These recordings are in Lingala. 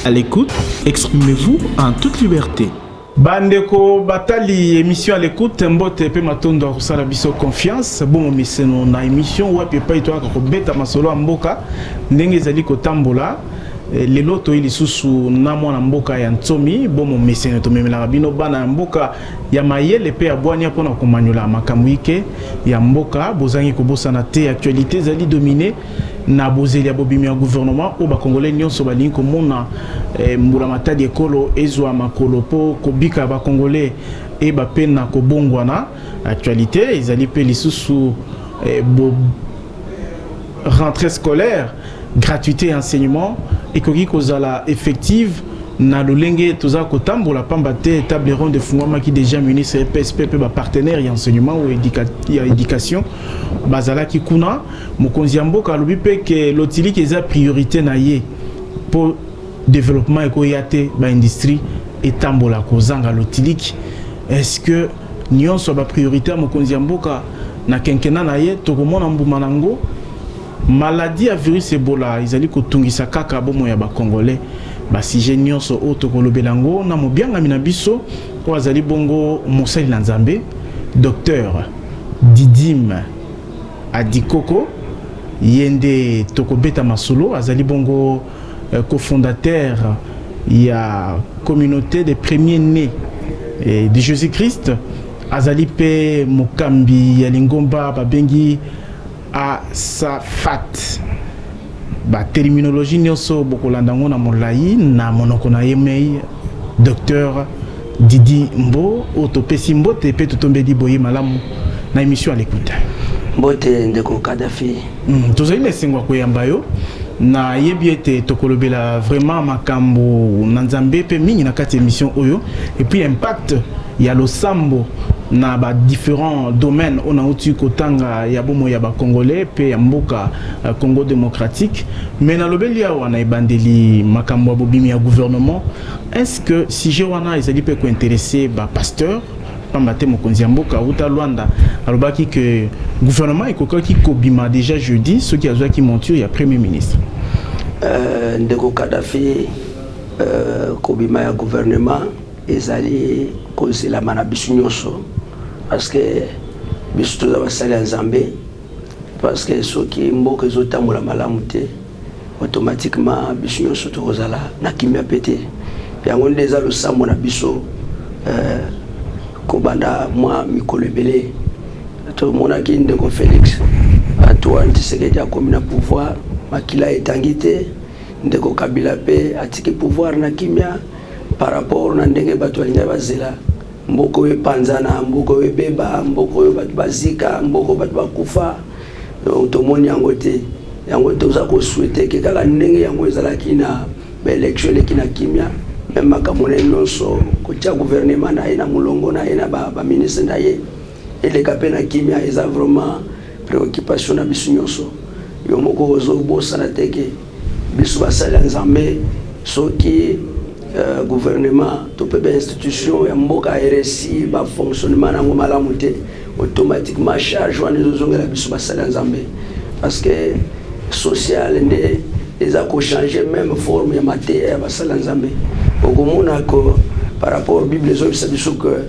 À l'écoute, exprimez-vous en toute liberté. bandeko batali émission à l'écoute mbote mpe matondo ya kosala biso confiance bongo miseno na émission wapi epai toyaka kobeta masolo ya mboka ndenge ezali kotambola eh, lelo toyi lisusu na mwana mboka ya nsomi bomo meseno tomemelaka bino bana ya mboka ya mayele pe ya bwania pona komaniola makambo ike ya mboka bozangi kobosana te actualite ezali domine na bozeli ya bobimi ya gouvernement oyo ba congolais nionso balingi komona eh, mbula matadi ekolo ezwa makolo po kobika ya ba congolais eba pe na kobongwana actualite ezali pe lisusu eh, bo rentrée scolaire Gratuite ya enseignement ekoki kozala effective na lolenge toza kotambola pamba te table ronde efungwamaki deja ministre ya psp mpe bapartenaire ya enseignement ou edika, ya éducation bazalaki kuna mokonzi ya mboka alobi mpe ke lotiliki eza priorité na ye mpo développement ekoya te baindustrie etambola kozanga lotiliki est ce que nyonso ya bapriorité ya mokonzi ya mboka na kenkena na ye tokomona mbuma na yango Maladie ya virus Ebola ezali kotungisa kaka bomoi ya ba Congolais. Ba sujets nionso oyo tokolobela yango na mobiangami na biso oyo azali bongo mosali na Nzambe, Docteur Didyme Adikoko. Ye nde tokobeta masolo, azali bongo cofondateur ya Communaute des Premiers Nes de Jesus-Christ. Azali mpe mokambi ya lingomba babengi. Asafat. Ba terminologie nioso bokolanda ngo na molayi na monoko na ye mei Docteur Didi Mbo oyo topesi mbote mpe totombeli boye malamu na emission à l'écoute. Mbote ndeko Kadhafi. Mm, tozali na esengo ya koyamba yo nayebi ete tokolobela vraiment makambo na nzambe mpe mingi na kati ya emission oyo epuis impact ya losambo na ba differents domaines oyo nauti kotanga ya bomoi ya ba Congolais mpe ya mboka Congo democratique. Mais nalobeli awa na ebandeli makambo ya bobimi ya gouvernement. Est ce que sujet wana ezali mpe ko interesser ba pasteurs? Pamba te mokonzi ya mboka wuta Luanda alobaki que gouvernement ekokaki kobima dejà jeudi soki azwaki monture ya Premier ministre. Euh, ndeko Kadhafi, euh, kobima ya gouvernement Ezali kozelama na bisu nionso parce que bisu toza basali ya Nzambe parce que soki mboka ezo tambola malamu te automatiquement bisu nionso toko zala na kimia pe te yango nde eza losambo na biso euh, kobanda mwa mikolo ebele tomonaki ndeko Felix Antoine Tshisekedi akomi na pouvoir makila etangi te ndeko Kabila pe atiki pouvoir na kimia par rapport na ndenge bato balingaki bazela mboka oyo epanzana mboka oyo ebeba mboka oyo bato bazika mboka oyo bato bakufa donc tomoni yango te yango toza kosuete ke kaka ndenge yango ezalaki na baelektio eleki na kimia meme makambo na ye nyonso kotya guvernema na ye na molongo na ye na baministre ba na ye eleka mpe na kimia eza vraiment préoccupation na biso nyonso yo moko ozobosana te ke Biso basali ya Nzambe soki euh, gouvernement to mpe ba institution ya mboka RSI ba fonctionnement nango malamu te automatiquement charge wana ezozongela biso basali ya Nzambe parce que social nde eza kochanger même forme ya mateya ya basali ya Nzambe okomona ko par rapport Bible ezobisa biso que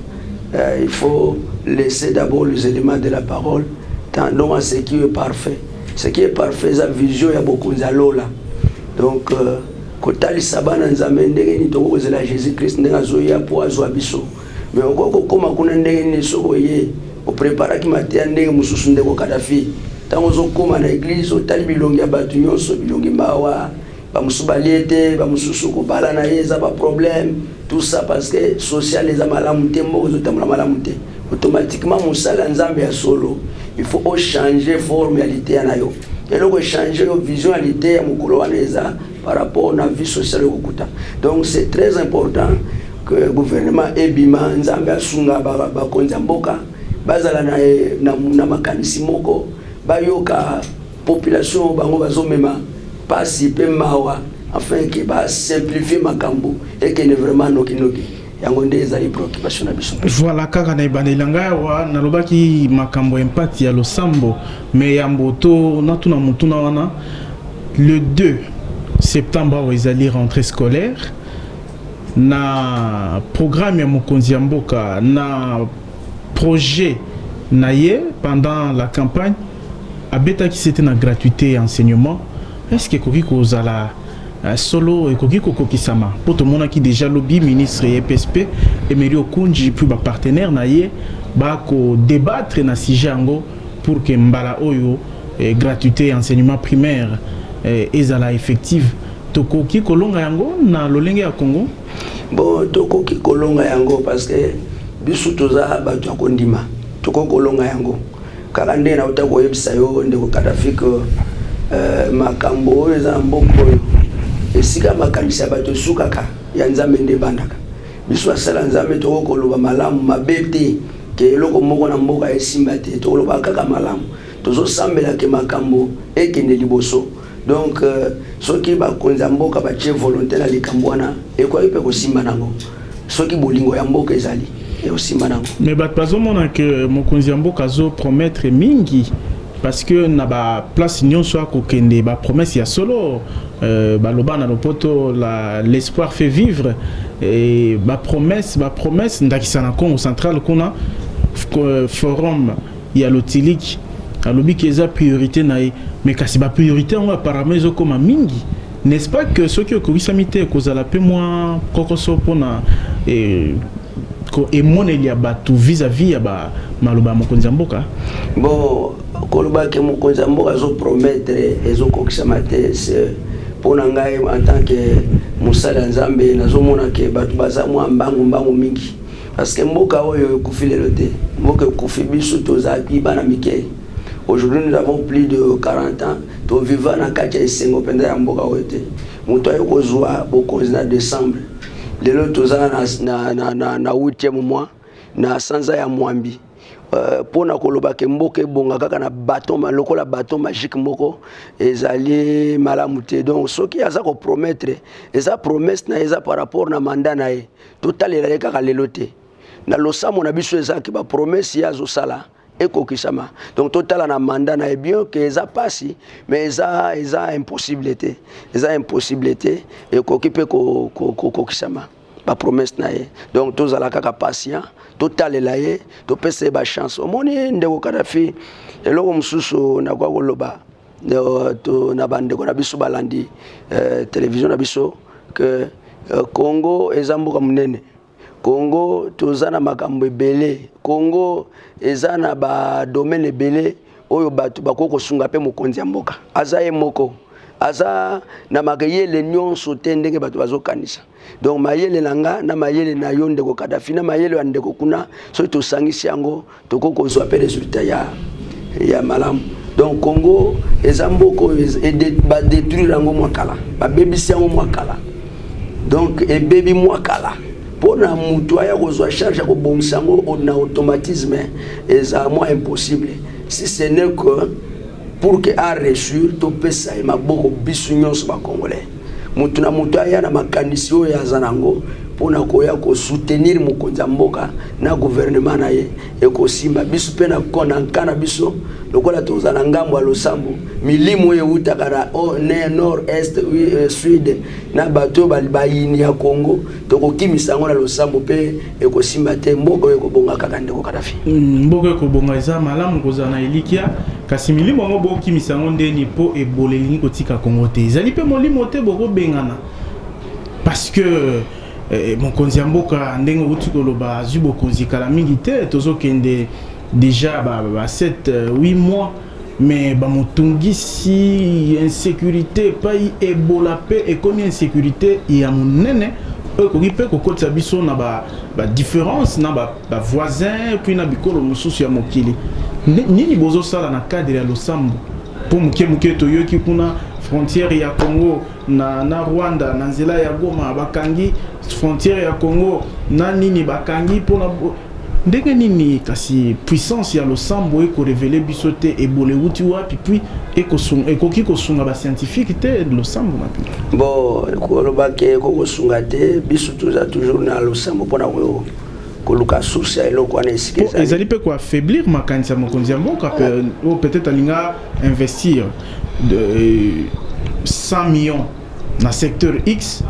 euh, il faut laisser d'abord les éléments de la parole tendons à ce qui est parfait Ce qui est parfait eza vision ya bokonzi ya lola. Donc euh, kotalisa bana Nzambe ndenge nini tokoki kozela Jésus Christ ndenge azoya mpo azwa biso. Mais okoki kokoma kuna ndenge nini soki oye opreparaki mateya ndenge mosusu ndeko Kadhafi. Ntango ozokoma na eglize otali bilongi ya bato nyonso, bilongi mawa, bamosusu balie te bamosusu kobala na ye eza baproblème tout ça parce que social eza malamu te mboka ezotambola malamu te automatiquement mosali ya nzambe ya solo il faut ochange forme ya liteya na yo eloko echange yo vision ya liteya mokolo wana eza par rapport na vie sociale okokuta donc c'est très important que gouvernement ebima nzambe asunga bakonzi ya mboka bazala na, na, na makanisi moko bayoka population bango bazo mema pasi pe mawa afin que ba simplifier makambo ekende vraiment noki noki yango nde ezali préoccupation na biso voilà kaka na ebandeli na ngai awa nalobaki makambo ya impact ya losambo me yambo to natuna motuna wana le 2 septembre awa ezali rentrée scolaire na programme ya mokonzi ya mboka na projet na ye pendant la campagne Abetaki sete na gratuite ya enseignement, est ce que ekoki kozala euh, solo ekoki kokokisama mpo tomonaki deja lobi ministre ya EPSP Emery Okunji puis ba partenaire na ye bakodebattre na sujet yango pour que mbala oyo eh, gratuité ya enseignement primaire eh, ezala effective tokoki kolonga yango na lolenge ya Congo bo tokoki kolonga yango parce que biso toza bato ya kondima tokoki kolonga yango Kaka nde nauta koyebisa yo ndeko Kadhafi que euh, makambo oyo eza na mboka oyo esika makanisi ya bato esukaka ya Nzambe nde ebandaka. Biso asala Nzambe tokoki koloba malamu mabe te ke eloko moko na mboka esimba te, tokoloba kaka malamu. Tozosambela ke makambo ekende liboso. Donc soki bakonzi ya mboka batie volonte na likambo wana ekoki pe kosimba nango soki bolingo ya mboka ezali ekosimba nango mais bato bazomona ke mokonzi ya mboka azo promettre mingi parce que na ba place nyonso akokende ba promesse ya solo euh, baloba na lopoto la l'espoir fait vivre et ba promesse ba promesse ndakisa na Congo central kuna forum ya lotiliki alobi ke eza priorite na ye mais kasi ba priorite yango apparemment ezokoma mingi n'est-ce pas que soki okokisami te ekozala mpe mwa kokoso mpona eh, emoneli ya bato vis-à-vis ya ba maloba ya mokonzi ya mboka bo koloba ke mokonzi ya mboka azopromettre ezokokisama te mpo na ngai en tant que mosali ya nzambe nazomona ke bato baza mwa mbangu mbangu mingi Parce que mboka oyo ekufi lelo te, mboka ekufi biso tozalaki bana mike. Aujourd'hui nous avons plus de 40 ans, to viva na kati ya esengo penza ya mboka oyo te. Moto aye kozwa bokonzi na decembre. Lelo toza na, na, na, na, na 8e mois, na sanza ya mwambi. Euh, mpo na koloba ke mboka ebonga kaka na baton lokola baton magique moko ezali malamu te donc soki aza kopromettre eza promesse na ye eza par rapport na mandat na ye totalela ye kaka lelo te na losambo na biso ezalaki bapromese ye azosala ekokisama donc totala na manda na ye bien ke eza mpasi mais eza eza impossible te eza impossible te ekoki mpe kokokisama ko, ko bapromese na ye donc tozala kaka patient totalela ye topesa ye bachance omoni ndeko kadafi eloko mosusu nakoya koloba euh, to na bandeko na biso balandi euh, television na biso que euh, Congo eza mboka monene Congo toza na makambo ebele Congo eza na ba domaine ebele oyo bato bakoki kosunga mpe mokonzi ya mboka aza ye moko aza na makeyele nyonso te ndenge bato bazokanisa donc mayele na nga na mayele na yo ndeko kadafi na mayele ya ndeko kuna soki tosangisi yango tokoki kozwa mpe resultat ya, ya malamu donc congo eza mboka oyo badetruire yango mwa kala babebisi yango mwa kala donc ebebi mwa kala mpo na motu aya kozwa charge ya kobongisa yango na automatisme eza mwa impossible si ce n'est que Pour que a reussir to pesa ye maboko bisu nyonso ba congolais. Mutu na mutu aya na makanisi oyo aza nango pona koya ko soutenir mokonzi ya mboka na gouvernement na ye ekosimba. Bisu pe na camp na biso lokola tozala ngambo ya losambo milimu oyo ewutaka na oh, ne nord est euh, sud na bato oyo bayini ya Congo tokokimisa yango na losambo pe ekosimba te mboka oyo ekobonga kaka ndeko kadafi mm, mboka ekobonga eza malamu kozala na elikya kasi milimo yango bokimisa yango ndeni mpo ebola elingi kotika kongo te ezali mpe molimo te bokobengana parce que eh, mokonzi ya mboka ndenge outi koloba azwi bokonzi kala mingi te tozokende déjà ba, ba 7 8 euh, mois mais bamotungisi insecurité epai ebola mpe ekomi insecurité ya monene oyo ekoki mpe kokotisa biso na badifference ba na bavoisin ba puis na bikolo mosusu ya mokili nini bozosala na cadre ya losambo mpo moke moke toyoki kuna frontière ya congo na, na rwanda na nzela ya goma bakangi frontière ya congo na nini bakangi mpona Ndenge nini kasi puissance ya losambo eko reveler biso te ebola ewuti wapi puis ekosunga ekoki kosunga ba scientifique te losambo na bino? Bo koloba ke eko kosunga te biso toza toujours na losambo pona ko koluka source ya eloko wana esika ezali ezali mpe koaffaiblir makanisi ya mokonzi ya mboka mpe oyo peut-être alinga investir de 100 millions na secteur X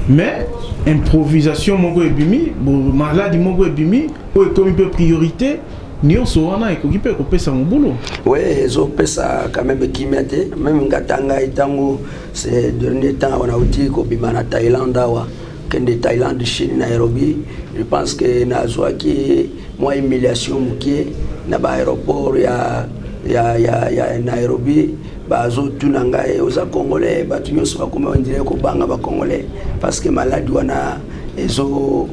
mais improvisation moko ebimi maladi moko ebimi oyo ekomi mpe priorité nyonso wana ekoki mpe kopesa mobulu oui ezopesa quand même kimia te meme ngata ngai ntango ce dernier temps wana auti kobima na thaïlande awa kende thaïlande chine nairobi je pense que nazwaki mwa humiliation mokie na baaéroport ya, ya, ya, ya nairobi bazotuna ngai oza congolais bato nyonso bakoma ondire kobanga bacongolais parce que maladi wana ezo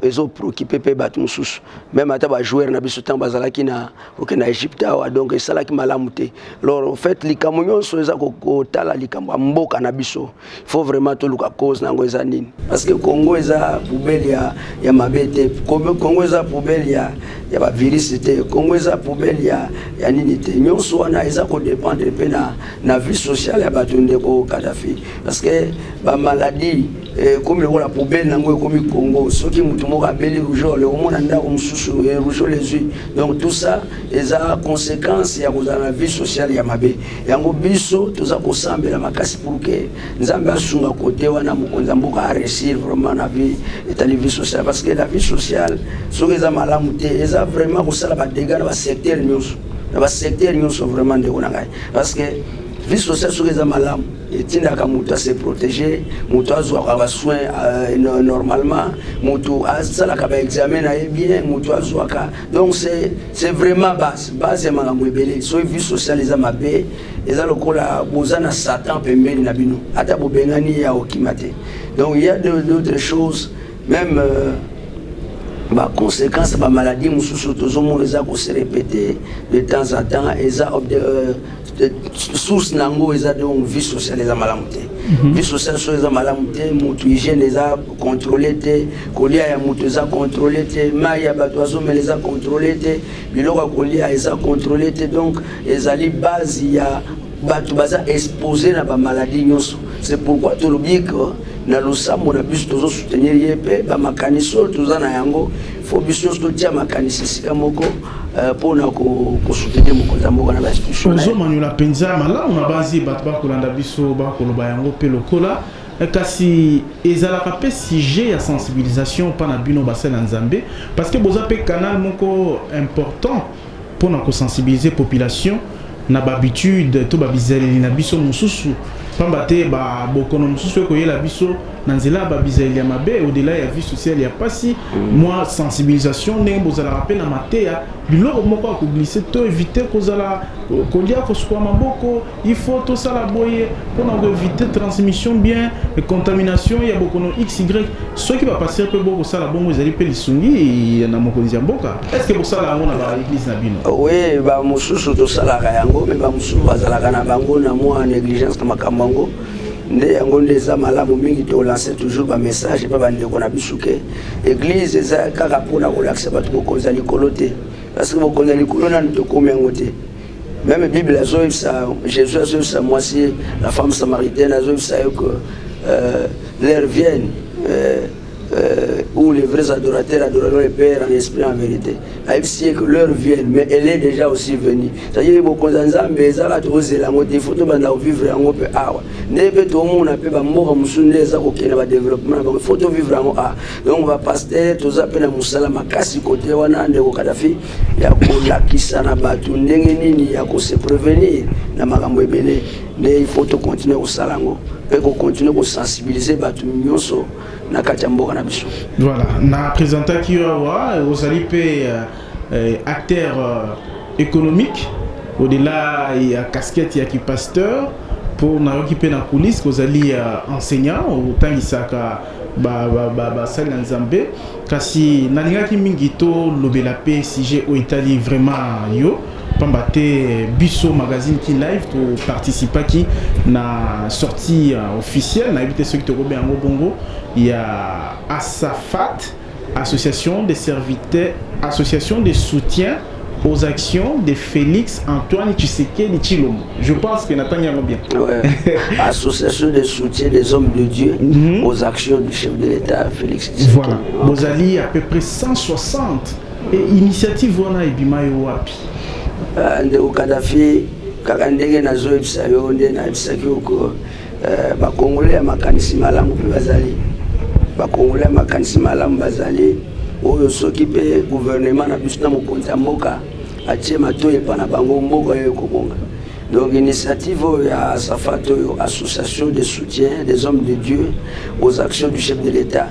ezoprokipe mpe bato mosusu meme ata bajoueur na biso ntango bazalaki na oke na egypte awa donc esalaki malamu te lor fait likambo nyonso eza kotala likambo ya mboka na biso faut vraiment toluka cause nango eza nini parce que congo eza poubelle ya, ya mabe te congo eza poubelle ya, ya bavirus te congo eza poubelle ya, ya nini te nyonso wana eza kodépendre mpe na, na vie sociale ya bato ndeko kadafi parce que bamaladi ekomi eh, lokola poubelle nango ekomi congo soki moto moko abeli rougeole okomona ndako mosusu eh, rougeole ezwi donc tout ça eza conséquence ya kozala na vie sociale ya mabe Yango biso toza kosambela makasi pour que Nzambe asunga kote wana mokonzi ya mboka a réussir vraiment na vie etali vie sociale parce que la vie sociale soki eza malamu te eza vraiment kosala ba dégâts na ba secteur nyonso na ba secteur nyonso vraiment ndeko na ngai parce que vie sociale soki eza malamu etindaka moto ase protege moto azwaka basoin euh, normalement moto asalaka baexamen na ye bien moto azwaka donc c'est vraiment base base ya makambo ebele soki vie sociale eza mabe eza lokola boza na satan pembeni na bino ata bobengani ye akokima te donc il y a d'autres choses même euh, baconséquence bamaladi mosusu tozomona eza koserepete de temps en temps eza euh, source nango eza donc vie sociale eza malamu te mhm. vie sociale so eza malamu te motu hygiène eza contrôle te kolia ya motu eza contrôle te mai ya bato azomela eza contrôle te biloko ya kolia eza contrôle te donc ezali base ya bato baza expose na bamaladi nyonso c'est pourquoi tolobi ke na losambo na biso tozo soutenir ye mpe bamakanisi oyo toza na yango fo biso nyonso totia makanisi esika moko Euh, mpona kosoutenir mokonzi ya mboka na bainstitution tozomanyola mpenza malamu na banzi bato bakolanda biso bakoloba yango mpe lokola eh, kasi ezalaka mpe sujet ya sensibilisation mpa na bino basali na nzambe parce que boza mpe canal moko important mpona kosensibiliser population na babitude to babizaleli na biso mosusu mpamba te babokono mosusu ekoyela biso na nzela ya babizaleli ya mabe odela ya vie sociale ya mpasi mm. mwa sensibilisation ndenge bozalaka mpe na mateya biloko moko ya koglise to evite kozala kolia kosukwa maboko il faut tosala boye mpona koevite transmission bien contamination ya bokono xy soki bapastere mpe bokosala bongo ezali mpe lisungi na mokonzi ya mboka Est-ce que bosala yango na ba église na bino? Oui, ba mususu tosalaka yango, mais ba mususu bazalaka na bango na mwa négligence na makambo yango. nde yango nde eza malamu mingi tolanse toujours bamessage mpe bandeko na biso ke eglize eza kaka mpona kolakisa bato bokonzi ya likolo te parceke bokonzi ya likolo nanu tokomi yango te meme bible azoyebisa jésus azoyebisa mwasi la femme samaritaine azoyebisa yo ke euh, leur vienne euh, où les vrais adorateurs adoreront le Père en esprit en vérité. Ayebisi ye que l'heure vienne, mais elle est déjà aussi venue. C'est-à-dire bokonzi ya Nzambe ezala tozela yango te, faut tobanda kovivre yango mpe awa. Nde mpe tomona mpe bamboka mosusu nde eza kokende badeveloppement na bango, faut tovivre yango awa. Donc bapaster toza mpe na mosala makasi kote wana ndeko Kadafi ya kolakisa na bato ndenge nini ya kose prevenir na makambo ebele. nde il faut to continuer kosala yango mpe ko continuer ko sensibiliser bato nyonso na kati ya mboka na biso voilà na présentaki yo awa ozali mpe euh, euh, acteur euh, économique au-delà ya casquette ya kipasteur mpo nayoki mpe na coulisse kozali enseignant otangisaka basali na nzambe kasi nalingaki mingi tolobela mpe sujet oyo etali vraiment yo pamba te biso magazine ki live toparticipaki na sortie euh, officielle nayebi te soki tokobe yango bongo ya asafat Association des serviteurs, association de soutien aux actions de Félix Antoine Tshisekedi Chilombo. Je pense que Nathan Yango bien. Ouais. Association de soutien des hommes de Dieu mm -hmm. aux actions du chef de l'État Félix Tshisekedi. Voilà. Vous allez à peu près 160 et initiative wana ebima yo wapi? Euh, ndeko Kadhafi kaka ndenge nazoyebisa yo nde nayebisaki yo Eh, ba congolais ya makanisi malamu mpe bazali ba congolais ya makanisi malamu bazali oyo soki mpe gouvernement na biso na mokonzi ya mboka atie matoi epa na bango mboka oyo ekobonga donc initiative oyo ya safat oyo association de soutien des hommes de dieu aux actions du chef de l'état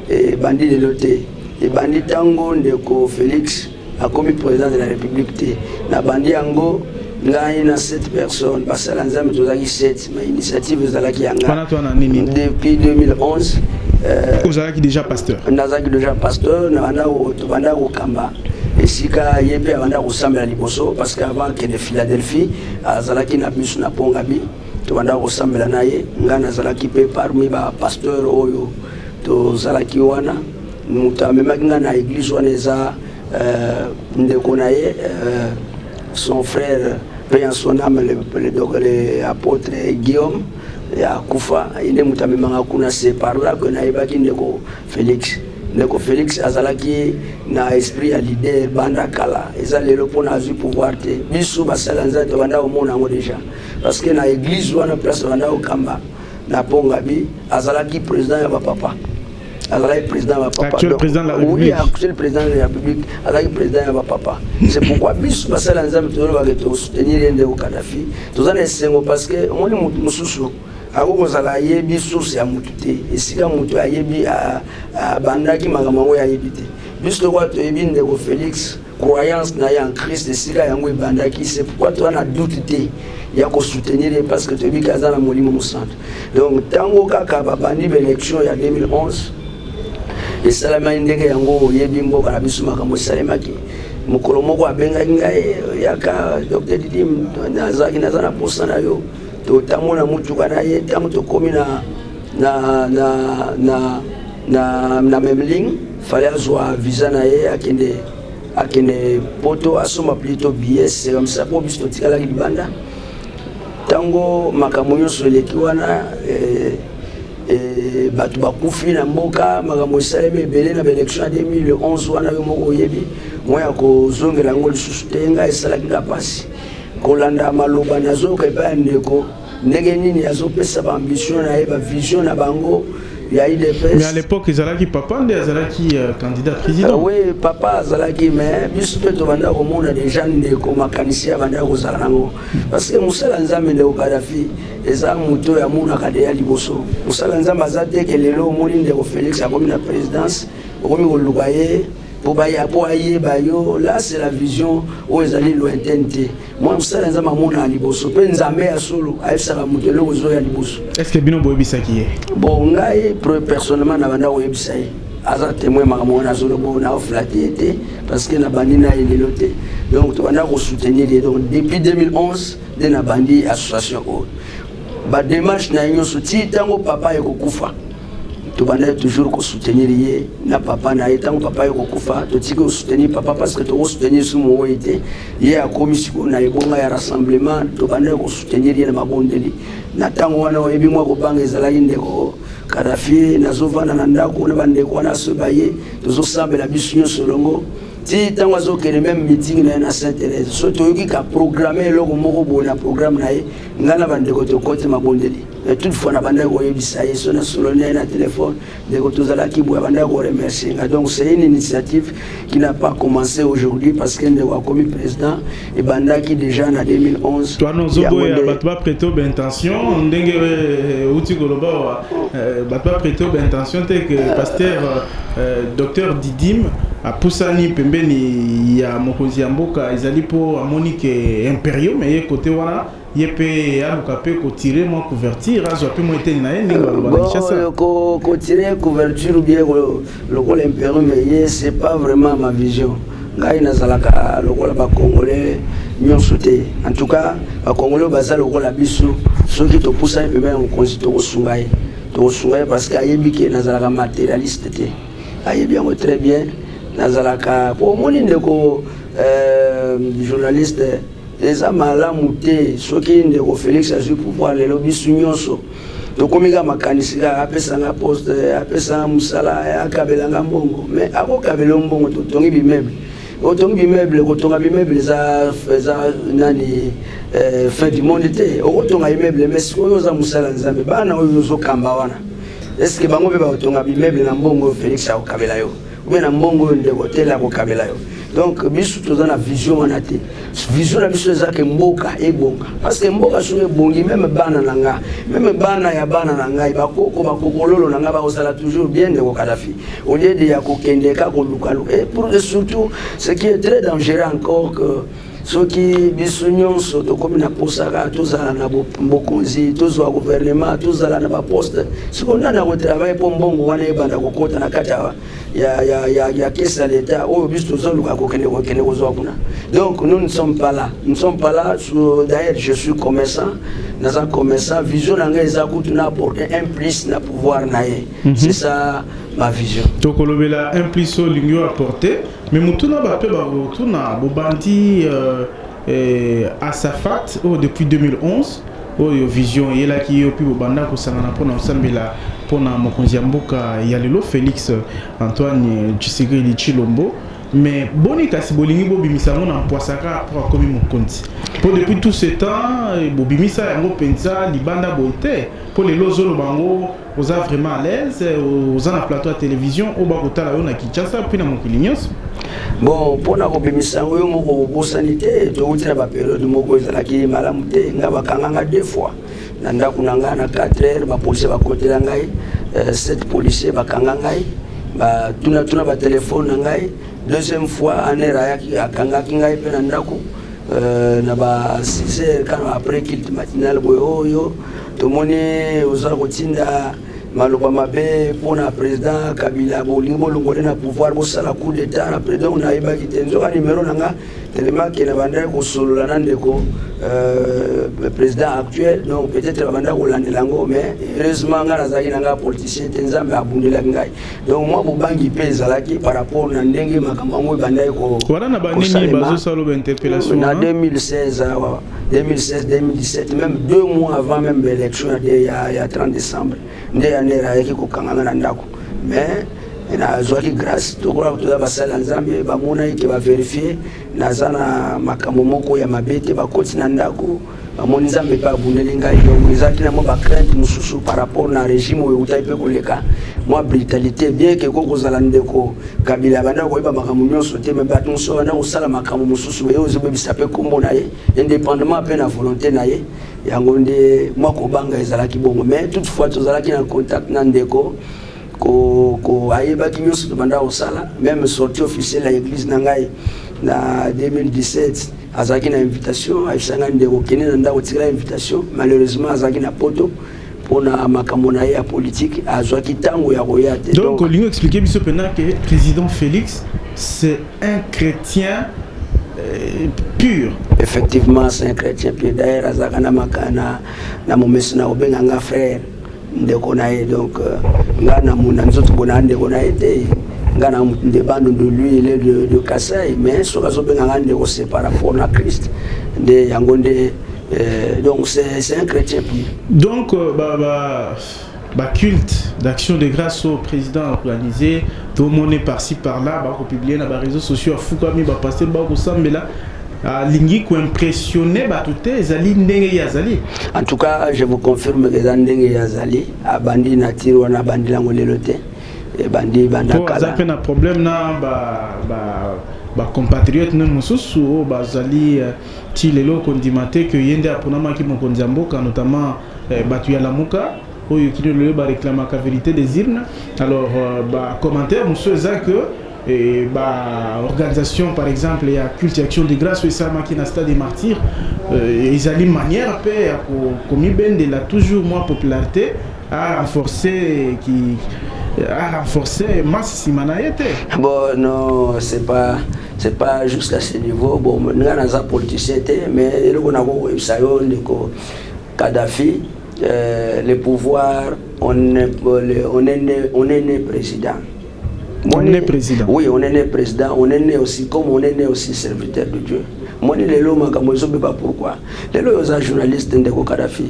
ebandi lelo te ebandi ntango ndeko félix akomi president de la republique te na bandi yango ngai na 7 personnes basala nzambe tozalaki 7 ma initiative ezalaki ya ngai depuis 2011 euh, ozalaki déjà pasteur nazalaki déjà pasteur nabanda kokamba esika ye mpe abanda kosambela liboso parce que avant kende philadelphie azalaki na biso na pongabi tobanda kosambela na ye ngai nazalaki mpe parmi bapasteur oyo tozalaki wana Mutu amemaki nga na eglise wana eza euh, ndeko na ye euh, son frère paix en son âme le, le, le, le apôtre Guillaume ya kufa ye nde moto amemaka kuna se par là que nayebaki ndeko Félix ndeko Félix azalaki na esprit ya leader banda kala eza lelo mpona azwi pouvoir te biso basala nzela tobanda komona yango déjà parce que na église wana place banda kokamba na pongabi azalaki président ya bapapa azalaki président ya bapapaactuel président de la république azalaki président ya bapapa c'est pourquoi biso basala ya nzambe tozolobake tosoutenir ye ndeko kadafi toza na esengo parce que omoni motu mosusu akoki kozala ayebi source ya motu te esika motu ayebi abandaki makambo yango ye ayebi te biso lokola toyebi ndeko félix croyance na ye en Christ esika yango ebandaki c'est pourquoi toi na doute te ya ko soutenir ye parce que toyebi ke aza na molimo mosantu donc ntango kaka babandi baélection ya 2011 esalemaki ndenge yango oyebi mboka na biso makambo esalemaki mokolo moko abengaki ngai yaka dr didi nazalaki naza na mposa na yo totambo na motuka na ye ntango tokomi na na na na na na meme ligne fallait azwa visa na ye akende akende poto asomba plito billet serum sa mpo biso totikalaki libanda ntango makambo nyonso eleki wana eh, eh, bato bakufi na mboka makambo esalemi ebele na baélection ya 2011 wana yo moko oyebi moi ya kozongela yango lisusu te ngai esalaki nga mpasi kolanda maloba nazoyoka epai ya ndeko Ndenge nini azo pesa ba ambition na ye ba vision na bango ya UDPS. Mais à l'époque ezalaki papa nde azalaki euh, candidat président. Uh, oui, papa azalaki mais biso mpe tobanda komona déjà ndeko makanisi ya banda kozala nango parce que mosala nzambe ndeko Kadhafi eza moto oyo amonaka deya liboso mosala nzambe aza te ke lelo omoni ndeko Félix akomi na présidence okomi koluka ye Mpo baya mpo ayeba yo, là c'est la vision oyo ezali lointaine te. Mwa mosala ya Nzambe amonaka liboso, mpe Nzambe ya solo ayebisaka moto eloko ezoya liboso. Est-ce que bino boyebisaki ye? Bon, ngai pre- personnellement nabanda koyebisa ye aza témoin makambo wana azolobo na oflate ye te parce que nabandi na ye lelo te donc tobanda kosoutenir ye donc depuis 2011 nde nabandi association oyo badémarche na ye nyonso ti ntango papa ekokufa tobandaki toujours kosoutenir ye na papa na ye ntango papa ye kokufa totiki kosoutenir papa parce que tokosoutenir su mowoyi te ye akomi sikoyo na ebonga ya rassemblement tobandaki kosoutenir ye na mabondeli na ntango wana oyebi mwa kobanga ezalaki ndeko kadafi nazovanda na ndako na bandeko wana asoba ye tozosambela biso nyonso elongo ti ntango azokende meme meeting na ye na saint thérèse so toyoki ka programme eloko moko boye na programme na ye ngai na bandeko tokoti mabondeli Et toute fois nabandaki koyebisa ye so nasololi na ye na telefone ndeko tozalaki boye abandaki koremercie nga donc c'est une initiative qui n'a pas commencé aujourd'hui parce que ndeko akomi président ebandaki déjà na 2011 twana ozoboya bato baprete baintention ndenge euti eh, koloba wa eh, bato baprete baintention te ke pasteur eh, docteur didime apusani pembeni ya mokonzi ya mboka ezali mpo amoni ke imperium eye kote wana ye pe aluka pe ko tirer mwa couverture azwa pe mwa eteni na ye ndenge baloba na Kinshasa bon ko ko tirer couverture bien lokola impero mais ye c'est pas vraiment ma vision ngai nazalaka lokola ba congolais nyonso te en tout cas ba congolais baza lokola biso soki topusani pembe na mokonzi tokosunga ye tokosunga ye parce que ayebi ke nazalaka matérialiste te ayebi yango très bien nazalaka po omoni ndeko euh, journaliste Eza malamu te soki ndeko Felix azui pouvoir lelo bisu nyonso tokomi ka makanisi ka apesa nga poste apesa nga musala akabela nga mbongo me akokabela mbongo totongi bimeuble otongi bimeuble kotonga bimeuble eza eza nani eh, fin du monde te okotonga imeuble me sikoyo oza mosala nzambe bana oyo ozokamba wana eske bango mpe bakotonga bimeuble na mbongo felix akokabela yo obe na mbongo oyo ndeko tele akokabela yo donc biso toza na vision wana te vision na biso eza ke mboka ebonga parce que mboka soki ebongi meme bana na nga meme bana ya bana na ngai bakoko bakokololo na ngai bakozala toujours bien ndeko kadafi au lieu de ya kokende ka kolukaluka et pour surtout ce qui est très dangereux encore que Soki biso nyonso tokomi na posa kaka tozala na bokonzi, tozwa gouvernement, tozala na baposte, siko nani akotravaille mpo mbongo wana ebanda kokota na kati ya, ya, ya, ya, ya kesi ya leta oyo biso tozoluka kokende kokende kozwa kuna. Donc nous ne sommes pas là, nous ne sommes pas là. D'ailleurs je suis commerçant, naza commerçant, vision na ngai eza kutu na apporter un plus na pouvoir na ye. Mm -hmm. C'est ça ma vision. Tokolobela un plus oyo olingi apporter Mais motuna ba pe ba motuna bobandi euh, eh, Asafat oh, depuis 2011 oyo oh, vision eyelaki yo mpe bobanda kosangana mpona kosambela mpona mokonzi ya mboka ya lelo Félix Antoine Tshisekedi Tshilombo mais boni kasi bolingi bobimisa yango na mpwasaka mpo akomi mokonzi mpo depuis tout ce temps eh, bobimisa yango mpenza libanda boye te mpo lelo ozoloba yango Oza vraiment à l'aise oza na plateau ya télévision oyo bakotala yo na Kinshasa mpe na mokili nyonso bon mpo na kobimisa yango yo moko obosani te towuti na baperiode moko ezalaki malamu te ngai bakanganga deux fois na ndako na ngai na 4 heures bapolisier bakotela ngai 7 euh, policier bakanga ngai batunatuna batelefone na ngai deuxième fois anere ayaki akangaki ngai mpe na ndako euh, na ba 6 heures kano après kilte matinale boye oyo oh, Tomoni oza kotinda maloba mabe mpo na president kabila bolingi bolongole na pouvoir bosala coup d'etat na president oyo nayebaki te nzoka nimero na nga telemake nabandaki kosolola na ndeko euh, président actuel donc peut-être babandaki kolandela yango mais heureusement ngai nazalaki na ngai politicien te nzambe abundelaki ngai donc mwa bobangi mpe ezalaki par rapport na ndenge makambo yango ebandaki kosalema na 2016 awa 2016 2017 même deux mois avant même élection ya, ya 30 décembre nde yanere ayaki kokangana na ndako mais nazwaki grâce tokola toza basali ya nzambe bamonaki ke baverifie naza na makambo moko ya mabe te bakoti na ndako bamoni nzambe mpe abundeli ngai donc ezalaki na mwa bacrainte mosusu par rapport na régime oyo eutaki mpe koleka mwa brutalité bien ke ko kozala ndeko Kabila abanda koyeba makambo nyonso te, me bato mosusu babanda kosala makambo mosusu meye ozobebisa mpe nkombo na ye independamment mpe na volonte na ye. Yango nde mwa kobanga ezalaki bongo, me toutefois tozalaki na contact na ndeko ko, ko ayebaki nyonso tobanda kosala meme sortie officielle ya eglise na ngai na 2017 azalaki na invitation ayebisa ngai ndeko kende na ndako tikala invitation malheureusement azalaki na poto pona makambo na ye ya politiki azwaki ntango ya koya te donc olingi explike biso mpena ke président félix c'est un chrétien euh, pur effectivement c'est un chrétien pur d'ailleurs azalaka na makana na momesi na kobenga nga frère ndeko na ye donc euh, nga na mona nzoto mpona ndeko na ye te nga na de bande de lui il est de, de Kassai mais soki azobenga nga ndeko c'est par rapport na Christ nde yango nde Euh, donc c'est un chrétien pire. Donc euh, bah, bah, bah, culte d'action de grâce au président organisé, tout le monde est par-ci par-là, bah, publié dans les réseaux sociaux, à Fukami, bah, passer, bah, au Sambela. alingi koimpressionne bato te ezali ndenge ye azali en tout cas je vous confirme que eza ndenge ye azali abandi na tire wana abandi yango lelo te ebandi bandaaza mpe na problème na ba, ba, ba compatriote ne mosusu oyo bazali euh, Ti lelo kondima te que ye nde aponamaki mokonzi ya mboka notamment batu ya Lamuka oyo kino lelo ba reclamaka verite des urnes. Alors ba commentaires mosusu eza que ba organisation par exemple ya culte action de grace oyo esalamaki na stade des martyrs ezali manière pe ya komibendela toujours mwa popularite a renforcer ki a renforcer masse sima na ye te. Bon non c'est pas c'est pas juste à ce niveau bon nga naza politicien te mais eloko nakokoyebisa yo ndeko kadhafi euh, le pouvoir on est, on est, né, on est né président on est né président oui on est né président on est né aussi comme on est né aussi serviteur de dieu moni lelo makambo ezobeba pourquoi lelo oyo oza journaliste ndeko kadhafi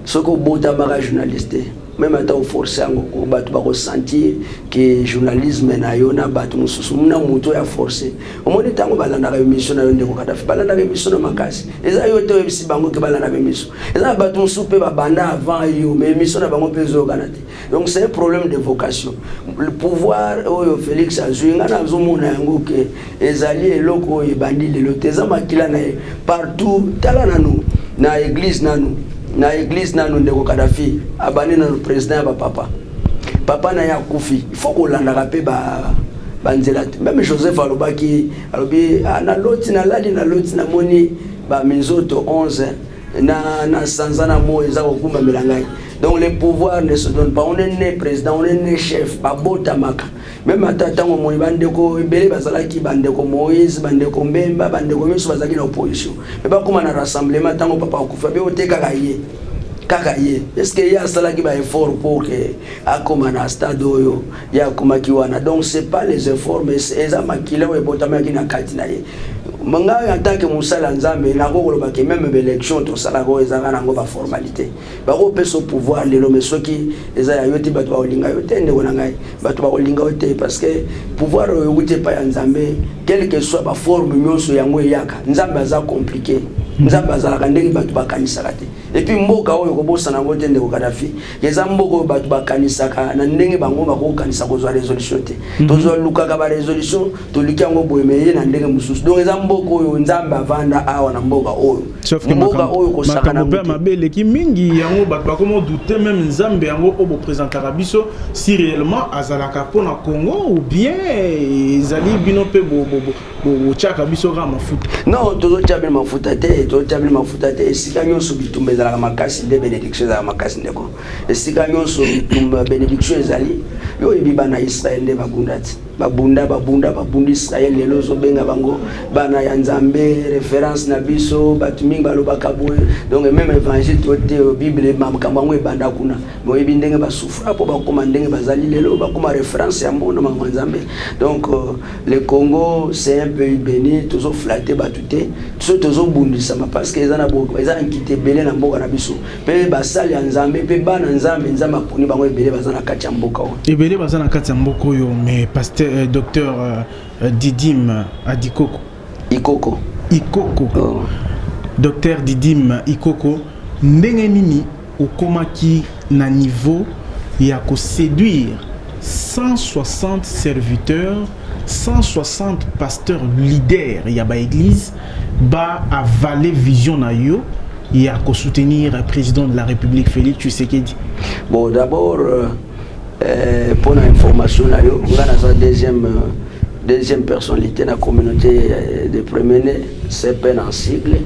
soki obotamaka journaliste te meme ata o force yango ko bato bako sentir que journalisme na yo na bato mosusu na moto ya force omoni ntango balandaka emission na yo ndeko kadafi balandaka emission na makasi eza yo te oyebisi bango ke balandaka emission eza na bato mosusu mpe babanda avant yo mais emission na bango mpe ezoyokana te donc c'est un problème de vocation le pouvoir oyo félix azwi ngai nazomona yango ke Ezali eloko oyo ebandi lelo te, eza makila na ye partout. Tala nanu na eglise nanu na eglise nanu ndeko Kadhafi abandi nanu president ya bapapa papa na ye akufi il faut kolandaka mpe ba banzela te meme joseph alobaki alobi ah, naloti nalali naloti namoni baminzoto 11 na, na sanza na moi eza kokumbamela ngai donc le pouvoir ne se donne pas on est né président on est né chef babotamaka Meme ata ntango omoni bandeko ebele bazalaki bandeko Moïse, bandeko Mbemba, bandeko nyonso bazalaki na opposition. Mpe bakoma na rassemblement ntango papa akufi abe ote kaka ye. Kaka ye. Est-ce que ye asalaki ba efforts pour que akoma na stade oyo ye akomaki wana. Donc c'est pas les efforts mais eza makila oyo ebotamaki na kati na ye. Ngai en tant que mosali ya Nzambe nakoki koloba que meme ba elections tosalaka oyo ezalaka nango ba formalités. bakopesa yo pouvoir lelo me soki eza ya yo te bato bakolinga yo te ndeko na ngai bato bakolinga yo te parce que pouvoir oyo euti epai ya nzambe quelque soit baforme nyonso yango eyaka nzambe aza compliqué nzambe azalaka ndenge bato bakanisaka te epuis mboka oyo kobosana yango te ndeko kadafi eza mboka oyo bato bakanisaka na ndenge bango bakokokanisa kozwa resolution te mhm. tozwa lukaka barésolution toliki yango boye me ye na ndenge mosusu donc eza mboka oyo nzambe avanda awa na mboka oyo mboka oyo kosakana mpe mabe eleki mingi yango bato bakoma doute meme nzambe yango oyo bopresentaka biso si réellement azalaka mpo na congo ou bien ezali bino mpe botyaka biso kaka mafuta non tozotya bino mafuta te tozotya bino mafuta te esika nyonso bitumba ezalaka makasi nde bénédiction ezalaka makasi ndeko esika nyonso bitumba bénédiction ezali yo oyebi bana israel nde bakunda ti babunda babunda babundi israel lelo ozobenga bango bana ya nzambe reference na biso bato mingi balobaka boye donc meme évangile to te bible makambo yango ebanda kuna boyebi ndenge basufra mpo bakoma ndenge bazali lelo bakoma reference ya mbono makambo ya nzambe donc euh, le congo c'est un pays béni tozoflate bato te biso tozobundisama parce que eza na eza na nkita ebele na mboka na biso mpe basali ya nzambe mpe bana nzambe nzambe aponi bango ebele baza na kati ya mboka oyo ebele baza na kati ya mboka oyo mais pasteur euh, docteur euh, euh didim adikoko ikoko ikoko oh. docteur didim ikoko ndenge nini okomaki na niveau ya koséduire 160 serviteurs 160 pasteurs leaders ya baeglise ba avaler vision na yo ya ko soutenir président de la République Félix Tshisekedi bon d'abord euh, euh, pour na information na yo nga naza deuxième euh, deuxième personnalité na communauté euh, de premier né CPN en sigle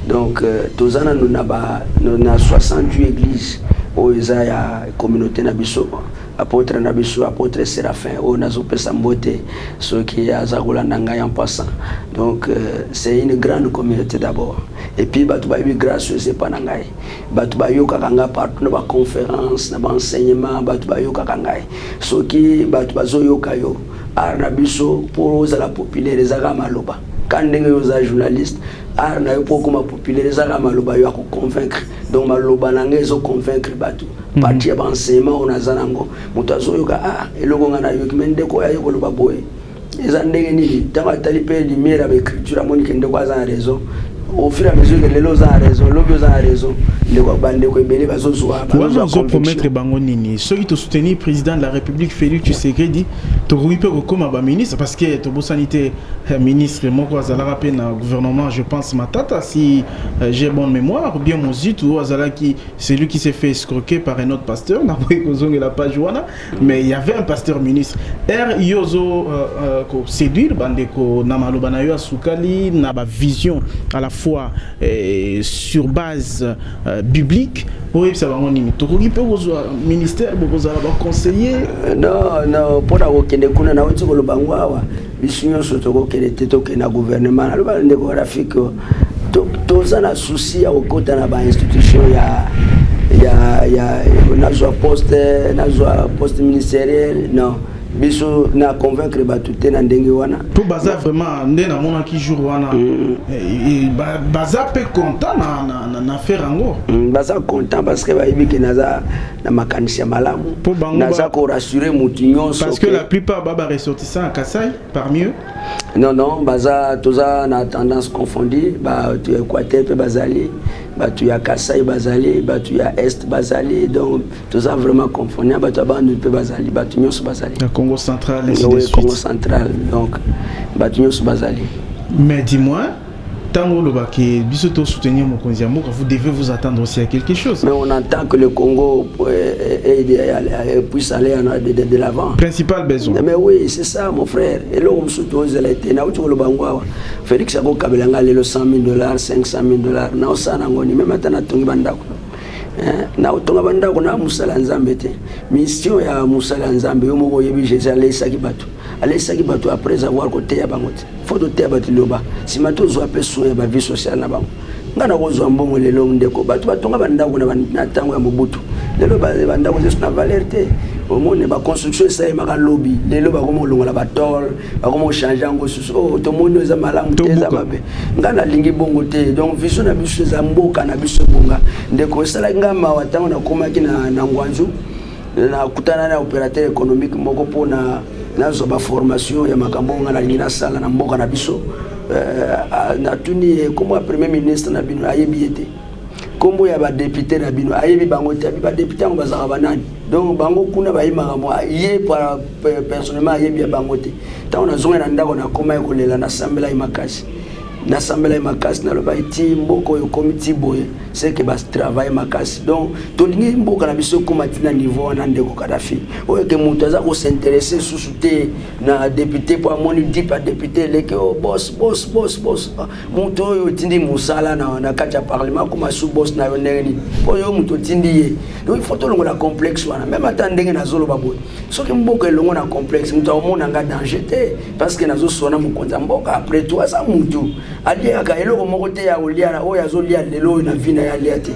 donc euh, toza nanu na ba na 68 église oyo eza ya communauté na biso Apotre na biso apotre Seraphin oyo nazo pesa mbote soki aza kolanda ngai en passant donc euh, c'est une grande communauté d'abord et puis bato bayebi grâce oyo epa na ngai bato bayokaka ngai partout na baconférence na baenseignement bato bayokaka ngai soki bato bazoyoka yo art na biso mpo ozala populaire ezaka maloba ka ndenge yo oza journaliste art na yo mpo okoma populaire eza kaka maloba yo ya koconvaincre donc maloba na ngai ezoconvaincre bato mhm. parti ya baenseignement oyo naza nango moto azoyoka a ah, eloko ngai nayoki mai ndeko oyo aye koloba boye eza ndenge nini ntango atali mpe lumière ya baécriture amoni ke ndeko aza na raison au fur et à mesure que lelo oza na raison lobi oza na raison ndeko bandeko ebele bazozwa wana ozopromettre bango nini soki tosoutenir président de la république félix tshisekedi tokoki mpe kokoma baministre parce que tobosani te eh, ministre moko azalaka mpe na gouvernement je pense matata si eh, j'ai bonne mémoire ou bien mozitu oyo azalaki celui qui s'est fait escroquer par un autre pasteur nakoki kozongela page wana mais il y avait un pasteur ministre r yo ozo euh, euh, koséduire bandeko na maloba na yo ya sukali na bavision à la fois eh, sur base euh, biblique boyebisa bango nini tokoki mpe kozwa ministère bokozala baconseiller euh, non non mpo na kokende kuna nauti koloba ngo awa biso nyonso tokokende te tokende na gouvernement naloba na ndeko rafiki toza na souci ya kokota na bainstitution ya ya ya nazwa poste nazwa poste ministériel non biso na convaincre bato te na ndenge wana mpo baza vraiment nde namonaki jour wana mm. eh, eh, baza mpe content na faire yango mm, baza content parce que bayebi ke naza na makanisi ya malamu naza korassure motu nyonso parce que la plupart baba ressortissant ya kasai parmi eux non non baza toza na tendance confondu bato ya équateur mpe bazali bato ya kasai bazali bato ya est bazali donc toza vraiment confond ya bato ya bandundu mpe bazali bato nyonso bazali na congo central oui, congo central donc bato nyonso bazali mais dis-moi ntango olobaki biso to soutenir mokonzi ya mboka vous devez vous attendre aussi à quelque chose mais on entend que le congo puisse aller de, de, de l'avant principal besoin mais oui c'est ça mon frère eloko mosusu tozela ete nauti koloba yango awa félix akokabela ngai lelo 100 000 dollars 500 000 dollars naosala nango ni meme ata natongi bandako na kotonga bandako na mosala ya nzambe te mission ya mosala ya nzambe yo moko oyebi jésus aleisaki bato aleisaki bato après avoir koteya bango te fo toteya bato liloba nsima tozwa mpe soin ya bavie sociale na bango ngai nakozwa mbongo lelo ndeko bato batonga bandako na ntango ya mobutu lelo bandako zesu na valeur te omoni baconstruction esalemaka lobi lelo bakomi kolongola batole bakoma kochange yango susu o oh, tomoni eza malamu te eza mabe ngai nalingi bongo te donc viso na biso eza mboka na biso ebonga ndeko esalaki ngai mawa ntango nakomaki na, na ngwanzu nakutana na opérateur économique moko mpona nazwa baformation ya makambo oyo ngai nalingi nasala na mboka na biso euh, natuni ye nkombo ya premier ministre na bino ayebi ye te nkombo ya badepute na bino ayebi bango te abi badepute yango bazalaka banani donc bango kuna bayebaka mwa ye personnellement ayebi ya bango te ntango nazongai na ndako nakomaki kolela nasambelaki makasi nasambelaki makasi nalobaki ti mboka oyo ekomi ti boye seke batravaille makasi donc tolingi mboka na biso ekóma ntina niveau wana ndeko kadafi oyo eke moto aza kosinteresse susu te na depute mpo amoni dip ya depute eleki o bos bos bos bos ah, moto oyo otindi mosala na, na kati ya parlement akóma su bos na yo ndenge nini mpo yo moto otindi ye donc ifo tolongola complexe wana meme ata ndenge nazoloba boye soki mboka elongo na complexe moto akomona nga danger te parce que nazosona mokonzi ya mboka après tout aza mutu aliaka eloko moko te ya kolia oyo azolia lelo oyo na vi na ye alia te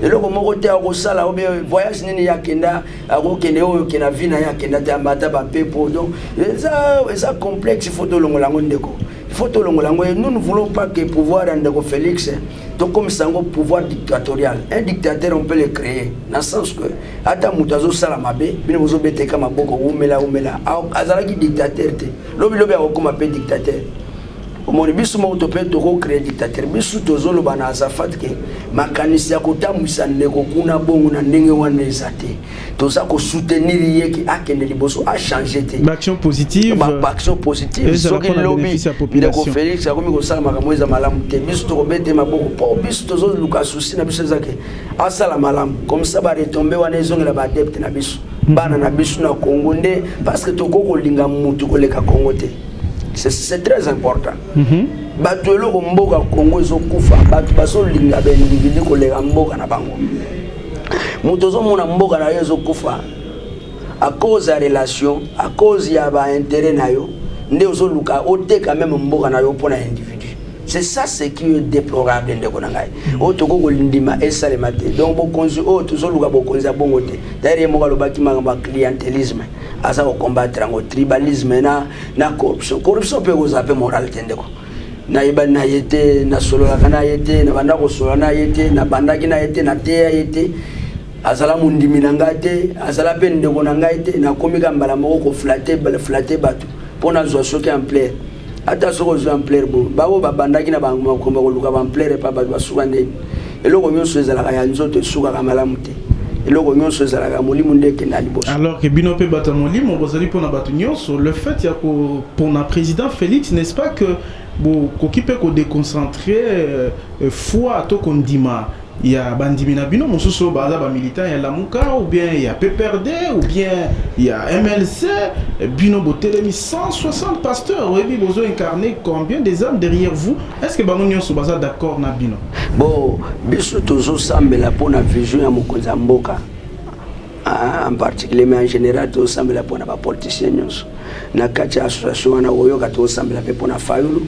eloko moko te akosala obe voyage nini ye akenda akokende oyo ke na vi na ye akenda te amata bapepo donc eza eza complexe faut tolongola yango ndeko faut tolongola yango nous ne voulons pas que pouvoir ya ndeko félix tokomisa yango pouvoir dictatorial un dictateur on peut le créer na sens que ata moto azosala mabe bino bozobeteka maboko wumela wumela azalaki dictateur te lobilobi akokoma mpe dictateur omoni biso moko to mpe tokocree dictateur biso tozoloba na azafat ke makanisi ya kotambwisa ndeko kuna bongo na ndenge wana eza te toza ko soutenir ye ki akende liboso a changer te ba action positive ba action positive soki lobi ndeko Felix akomi kosala makambo eza malamu te biso tokobete maboko mpo biso tozoluka souci na biso ezake asala malamu comme ça ba retombe wana ezongela ba adepte na biso mhm. bana na biso na Congo nde parce que tokoki kolinga mutu koleka Congo te c'est très important mm -hmm. bato eloko mboka Congo ezokufa bato bazolinga baindividu koleka mboka na bango moto ozomona mboka na yo ezokufa à cause ya relation à cause ya ba intérêt na yo nde ozoluka oteka meme mboka na yo mpo na individu c'est ça ce qui est déplorable ndeko na ngai mm. oyo tokoki kolindima esalema te donc bokonzi oyo tozoluka bokonzi ya bongo te daire ye moko alobaki makambo ya clientelisme aza kocombattre yango tribalisme na, na corruption corruption mpe ekozala mpe morale te ndeko nayebani na ye te nasololaka na ye te nabanda kosolola na ye te nabandaki na ye te nateya ye te azala mondimi na ngai te azala mpe ndeko na ngai te nakomi ka mbala moko koflate flate bato mpo nazwa soki ampleur ata soki ozwi ampleur bo baoyo babandaki na bango makomba koluka baampleur epa bato basuka ndeni eloko nyonso ezalaka ya nzoto esukaka malamu te eloko nyonso ezalaka molimo nde ekenda liboso alors que bino mpe bato ya molimo bozali mpona bato nyonso le fait ya kopona président félix n'est ce pas que bokoki mpe kodeconcentre euh, foi to kondima ya bandimi na bino mosusu oyo baza bamilitant ya lamuka ou bien ya pprd ou bien ya mlc bino botelemi 160 pasteur oyebi bozo incarne combien des âmes derrière vous est ce que bango nyonso baza d'accord na bino Bo biso tozo sambela pona vision ya mokonzi ya mboka en particulier mais en general tozo sambela pona ba politiciens nyonso na kati ya association wana oyoka tozo sambela pe pona Fayulu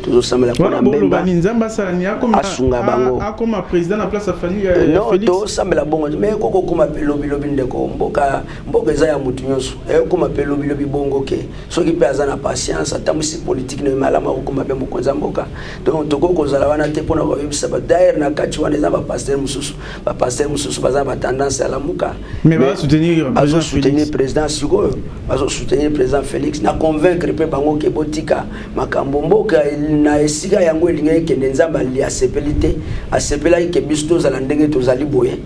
tozo sambela pona Mbemba Nzambe asala ni akoma asunga bango akoma president na place ya Fayulu ya Felix non tozo sambela bongo mais koko koma pe lobi lobi ndeko mboka mboka eza ya mutu nyonso e koma pe lobi lobi bongo ke soki pe aza na patience atambusi politique na malamu akoma pe mokonza mboka Donc tokoki kozala wana te pona koyebisa ba d'ailleurs na kati wana eza ba pasteur mususu ba pasteur mususu baza ba tendance ya lamuka mais ba soutenir bazo soutenir président sikoyo bazo soutenir président Félix na convaincre pe bango ke botika makambo mboka na esika yango elingaki kende nzambe ali asepeli te asepelaki ke biso tozala ndenge tozali boye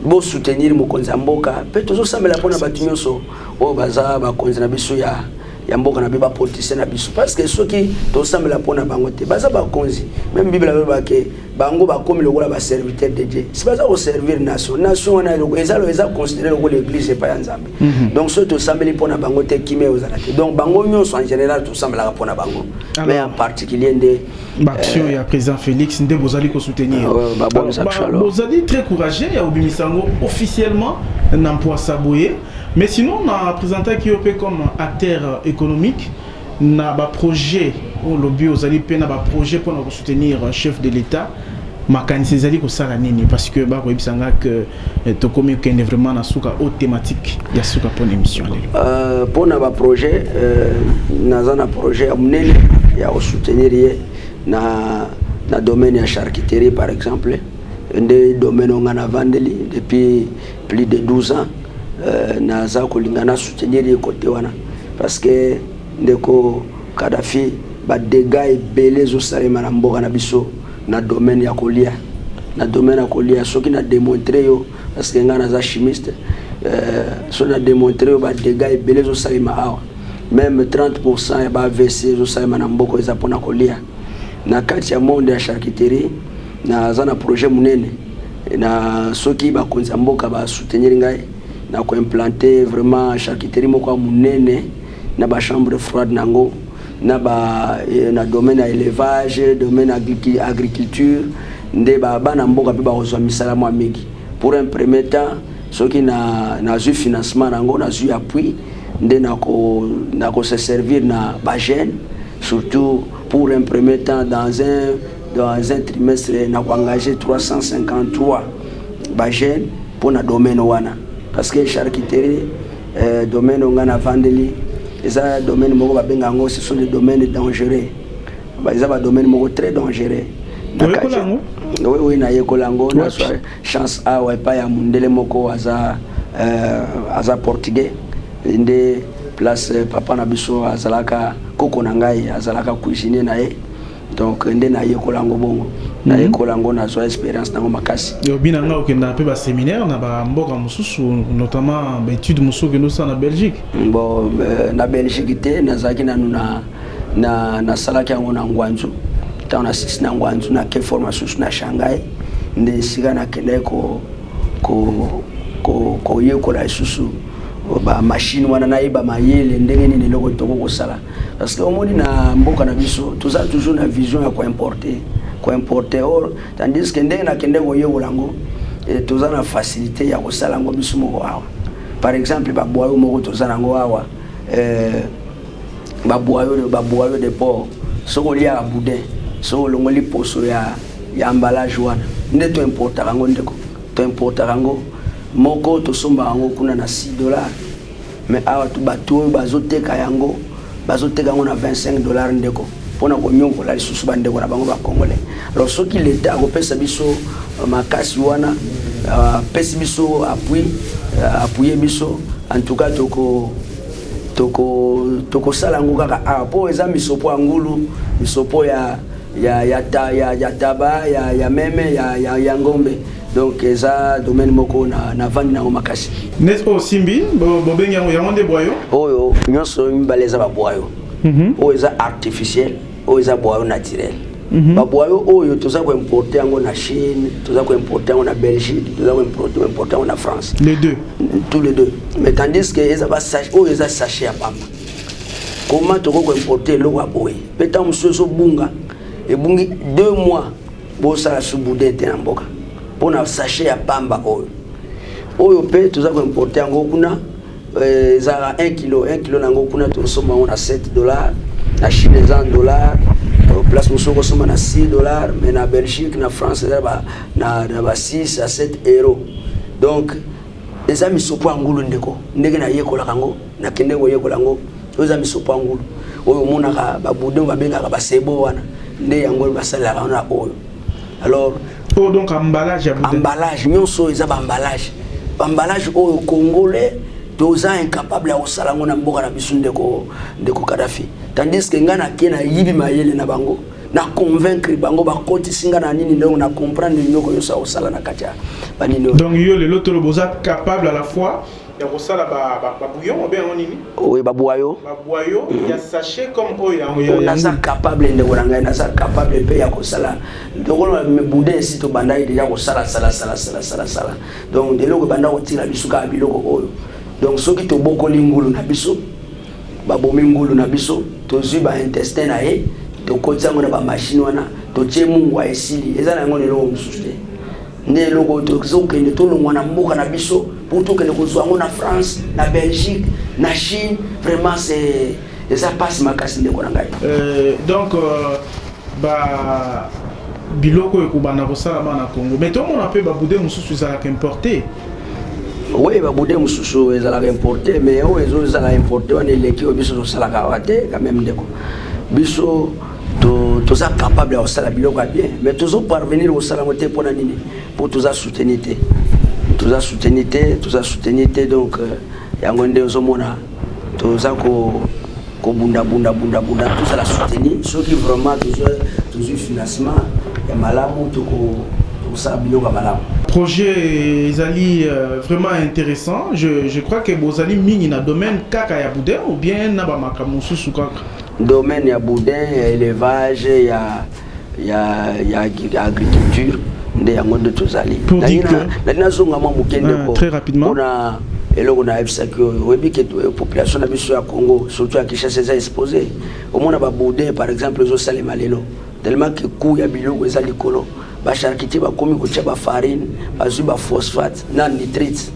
bo soutenir mokonzi ya mboka pe tozo sambela pona bato nyonso oyo baza bakonzi na biso ya ya mboka na biso bapolitisien na biso parce que soki tosambela mpo na bango te baza bakonzi meme bible alobaka ke bango bakomi lokola baserviteur de dieu si baza koservir nation nation wana eza eza considéré lokola église epai ya nzambe mhm. donc soki tosambeli mpo na bango te kimia eozala te donc bango nyonso en général tosambelaka mpo na bango mais en particulier nde baaction euh, ya président félix nde bozali kosoutenir ah bozali très courageux ya kobimisa yango officiellement na mpoasa boye Mais sinon na presentaki yo pe comme acteur économique na ba projets oyo lobi ozali pe na ba projets pona ko soutenir chef de l'Etat makanisi ezali kosala nini parce que bakoyebisa nga que eh, tokomi kokende vraiment na suka o thématique ya suka mpona émission lelo euh, mpona baprojet euh, naza na projet ya monene ya kosoutenir ye na, na domaine ya charcuterie par exemple nde domaine oyo ngai navandeli depuis plus de 12 ans euh, naza kolinga na soutenir ye kote wana parce que ndeko kadafi badega ebele ezosalema na mboka na biso na domaine ya kolia na domaine ya kolia soki na demontre yo parce que ngai naza chimiste euh, soki na demontre yo badega ebele ezosalema awa meme 30 pourcent ya ba avc ezosalema na mboka eza mpona kolia na kati ya monde ya charcuterie naza na projet monene na soki bakonzi ya mboka ba soutenir ngai na ko implanter vraiment charcuterie moko ya munene na ba chambre froide na yango na ba eh, na domaine ya élevage domaine agriculture nde ba bana mboka pe bakozwa misala mwa mingi pour un premier temps soki na nazwi financement na yango nazwi appui nde na ko na ko se servir na ba jeunes surtout pour un premier temps dans un Dans un trimestre na ko engager 353 ba jeunes pona domaine wana parce que charcuterie euh, domaine onga na vandeli eza domaine moko babenga yango ce sont des domaines dangereux eza ba domaine moko très dangereux oui oui nayekola yango na chance awa epai ya mondele moko aza euh, aza portugais nde place papa na biso azalaka koko na ngai azalaka cuisine na ye donc nde nayekola yango bongo mhm. nayekola yango nazwa expérience nango makasi obi na nga okendaka mpe baséminaire na bamboka mosusu notamment baétude mosusu okende osala na belgique mm, bon euh, na belgique te nazalaki nanu na nasalaki yango na ngwanzu ntango nasisi na ngwanzu nake formation susu na shanghai nde esika nakendaki ko, ko, ko, koyekola lisusu bamashine wana nayeba mayele ndenge nini eloko toko kosala Parce que omoni na mboka na biso toza toujours na vision ya koimporte koimporte or tandis que ndenge nakende koyekola yango eh, toza na facilité ya kosala yango biso moko awa par exemple babwayo moko toza na yango awa eh, babwayo babwayo de port soki oliaka boudin soki olongoli poso ya, ya ambalage wana nde toimportaka yango ndeko toimportaka yango moko tosombaka yango kuna na 6 dollars Mais awa tu batu oyo bazo teka yango bazo teka yango na 25 dollars ndeko pona ko nionkola lisusu ba ndeko na bango ba congolais alors soki l'etat ako pesa biso euh, makasi wana euh, pesi biso appui euh, appuyer biso en tout cas toko toko toko sala yango kaka awa po eza misopo ya ngulu misopo ya ya ya ta ya ya taba ya ya meme ya ya ya ngombe donc eza domaine moko na na vandi nango makasi net oyo simbi bobengi yango yango nde bwayo oyo nyonso mibale eza babwayo mhm. oyo eza artificiel oyo eza bwayo naturel mhm. babwayo oyo toza koimporte yango na chine toza koimporte yango na belgique toza koimporte yango na france les deux tous les deux mais tandis que eza basach oyo eza sachet ya pamba comment toko ko importer eloko ya boye mpe ntango mosusu ezobunga ebungi deux mois bosala subude te na mboka mpo na sachet ya pamba oyo oyo mpe toza ko importer yango kuna eh, ezalaka 1 kilo 1 kilo na yango kuna tosomba yango na 7 dollar na chine eza 1 dollar euh, place mosusu okosomba na 6 dollar mais na belgique na france eza na ba 6 a 7 euro donc eza misopo ya ngulu ndeko ndenge nayekolaka yango Nakende koyekola yango. Oyo eza misopo ya ngulu. Oyo omonaka ba boudin babengaka ba sebo wana. Nde yango oyo basalelaka wana oyo. Alors Oh donc emballage ya boudin. Emballage nyonso eza ba emballage. Ba emballage oyo congolais toza incapable ya kosala ngo na mboka na biso ndeko ndeko Kadhafi. Tandis que ngai nake na yibi mayele na bango. na convaincre bango bakotisi nga na nini ndongo na comprendre nyoko nyonso akosala na kati ya banini donc yo lelo toloba oza capable à la fois ya kosala babouillon ba, ba obenga yango nini oyo babwayo babwayo mm -hmm. ya sachet comme oyo yango ya naza capable ndeko na ngai naza capable mpe ya kosala lokola boudin esi tobandaki deja kosala sala sala sala sala sala donc eloko ebanda kotinda biso kaka biloko oyo donc soki tobokoli ngulu na biso babomi ngulu na biso tozwi baintestin na ye tokoti yango na bamashine wana totie mungwa esili eza na yango na eloko mosusu te nde eloko oyo tozokende tolongwa na mboka na biso mpo tokende kozwa yango na france na belgique na chine vraiment se eza mpasi makasi ndeko na ngai euh, donc euh, ba biloko oyo ekobanda kosalama na congo mais tomona mpe babude mosusu ezalaka importe oui babude mosusu ezalaka importe mais oyo ezozala importe wana eleki oyo biso tosalaka awa te quand même ndeko biso toza capable ya kosala biloko ya bien mais tozo parvenir kosala yango te mpona nini mpo toza souteni te toza souteni te toza souteni te donc euh, yango nde ozomona toza ko kobundabundabundabunda tozala souteni soki vraiment tozwi financement ya malamu tokosala biloko ya malamu projet ezali euh, vraiment intéressant je, je crois que bozali mingi na domaine kaka ya boudin ou bien na bamakambo mosusu kaka Domaine ya boudin ya elevage ya ya ya agriculture nde yango nde tozali nali nazonga mwa moke ndeko mpona eloko na yebisaki oyo oyebi ke euh, population na biso ya congo surtout ya kinshasa eza expose omona baboudin par exemple ezosalema lelo tellement ke coût ya biloko eza likolo ba charcutier bakomi kotia ba farine bazwi ba phosphate na nitrite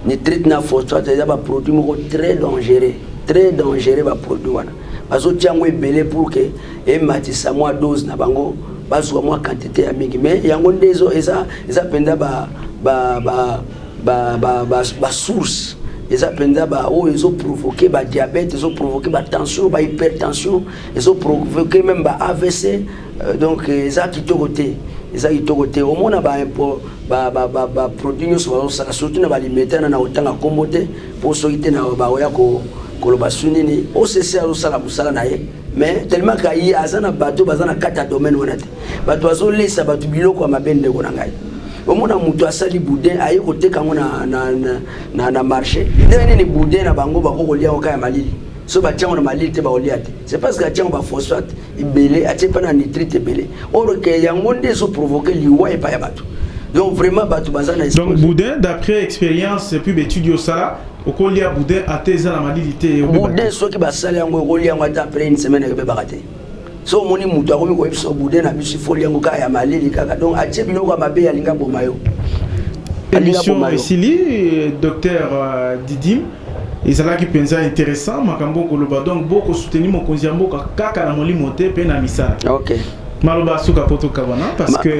nitrite na phosphate eza ba produit moko très dangereux très dangereux ba produit wana bazotia yango ebele pour que ematisa mwa dose na bango bazwa mwa quantité ya mingi mais yango nde ezo eza eza mpenza ba ba ba ba ba, ba, ba source eza mpenza baoyo ezoprovoke badiabete ezoprovoke batension bahypertension ezoprovoke meme ba avc Euh, donc eza kitoko te eza kitoko te omona baproduit nyonso bazosaka surtout na balimete na na otanga nkombo te mpo soki te na baoya koloba su nini occ azosala mosala na ye mais tellement ka ye aza na bato baza na kati ya domaine wana te bato bazolesa bato biloko ya mabe ndeko na ngai omona moto asali boudin aye koteka yango na, na, na, na, na marché ndenge nini boudin na bango bakokolia yango kaka ya malili so batyango na malili te baolia te c'est parce que atyango baphosphate ebele atie mpe na nitrite ebele or ke yango nde ezoprovoke liwa epai ya bato donc vraiment bato baza na donc boudin d'après expérience epuis baetude osala okolia boudin ata eza na malili te boudin soki basali yango okolia yango ata après une semaine ekobebaka te so omoni moto akomi koyebisa boudin na biso ifoli yango kaka ya malili kaka donc atie biloko ya mabe alinga boma yo émission esili docteur euh, didim Ezalaki mpenza interessant makambo okoloba donc boko soutenir mokonzi ya mboka kaka na molimo te mpe na misala. Okay. Maloba suka mpo tokabana parce que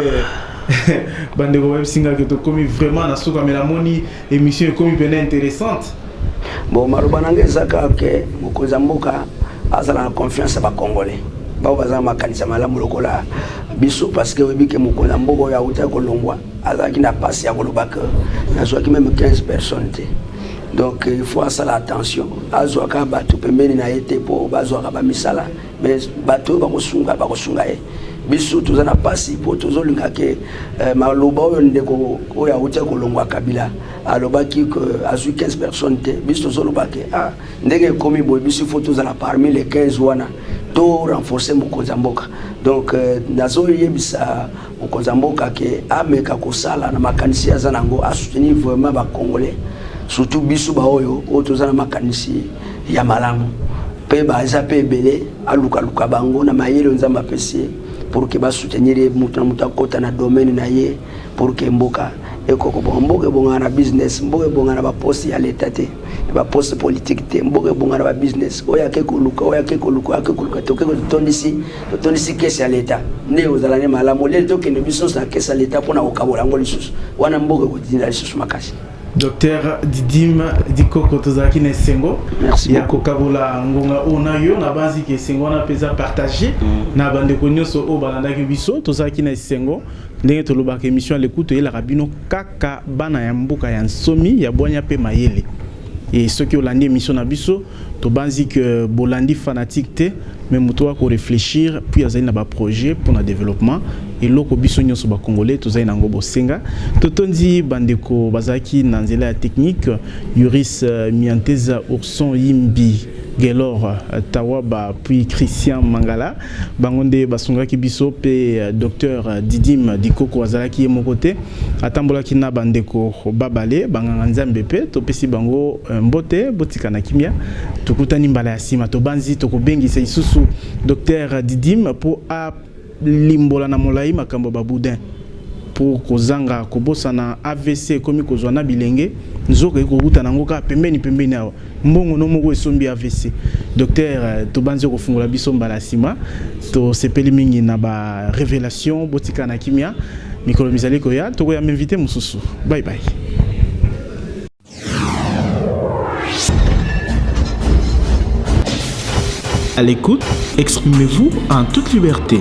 bandeko bayebisi ngai ke tokomi vraiment na suka mais namoni émission ekomi mpenza interessante. Bon maloba na ngai eza kaka ke mokonzi ya mboka azala na confiance ya bacongolais bao baza na makanisa malamu lokola biso parce que oyebi ke mokonzi ya mboka oyo autaki kolongwa azalaki na pasi ya koloba ke nazwaki meme 15 personnes te donc il faut asala attention azwaka bato pembeni na ye te mpo bazwaka bamisala mais bato oyo bakosunga bakosunga ye biso toza na mpasi mpo tozolinga ke eh, maloba oyo ndeko oyo awuti kolongwa kabila alobaki ke azwi 15 personnes te biso tozoloba ke ah, ndenge ekomi boye biso ifo tozala parmi les 15 wana to renforcer mokonzi ya mboka donc eh, nazoyebisa Mokonzi ya mboka ke ameka kosala na makanisi ye aza na yango, a soutenir vraiment ba congolais surtout biso baoyo oyo toza na makanisi ya malamu mpe baza mpe ebele, alukaluka bango na mayele oyo Nzambe apesi ye pour ke ba soutenir ye, moto na moto akota na domaine na ye pour ke mboka ekoki kobonga. Mboka ebongaka na business, mboka ebongaka na ba poste ya leta te, na ba poste politique te, mboka ebongaka na ba business. Oyo ake koluka, oyo ake koluka, oyo ake koluka te, oke kotondisi totondisi kesi ya leta nde ozala nde malamu oleli tokende biso nyonso na kesi ya leta mpo na kokabola yango lisusu wana mboka ekotinda lisusu makasi docteur didime dikoko tozalaki na esengo ya kokabola ngonga oyo na yo nabanzi ke esengo wana mpenza partage mm. na bandeko nyonso oyo balandaki biso tozalaki na esengo ndenge tolobaka émission ya lekutu eyelaka bino kaka bana ya mboka ya nsomi ya bwanya mpe mayele e soki olandi émission na biso Tobanzi que bolandi fanatique te mais moto wa ko réfléchir puis azali na ba projet pour na développement eloko biso nyonso ba congolais tozali na yango bosenga totondi bandeko bazalaki na nzela ya technique Yuris euh, Mianteza Urson Yimbi Gelor euh, Tawaba puis Christian Mangala bango nde basungaki biso pe euh, docteur Didim Dikoko azalaki ye moko te atambolaki na bandeko babale banganga nzambe mpe topesi bango eh, mbote botika na kimia tokutani mbala ya nsima tobanzi tokobengisa isusu docteur didim mpo alimbola na molai makambo ya baboudin mpo kozanga kobosana avc ekomi kozwa na bilenge nzoka ekokutana yango kaka pembeni pembeni awa mbongo no moko esombi avc docteur euh, tobanzi kofungola biso mbala nsima tosepeli mingi na ba révélation botika na kimia mikolo mizali koya tokoya m'invite mosusu bye bye À l'écoute, exprimez-vous en toute liberté.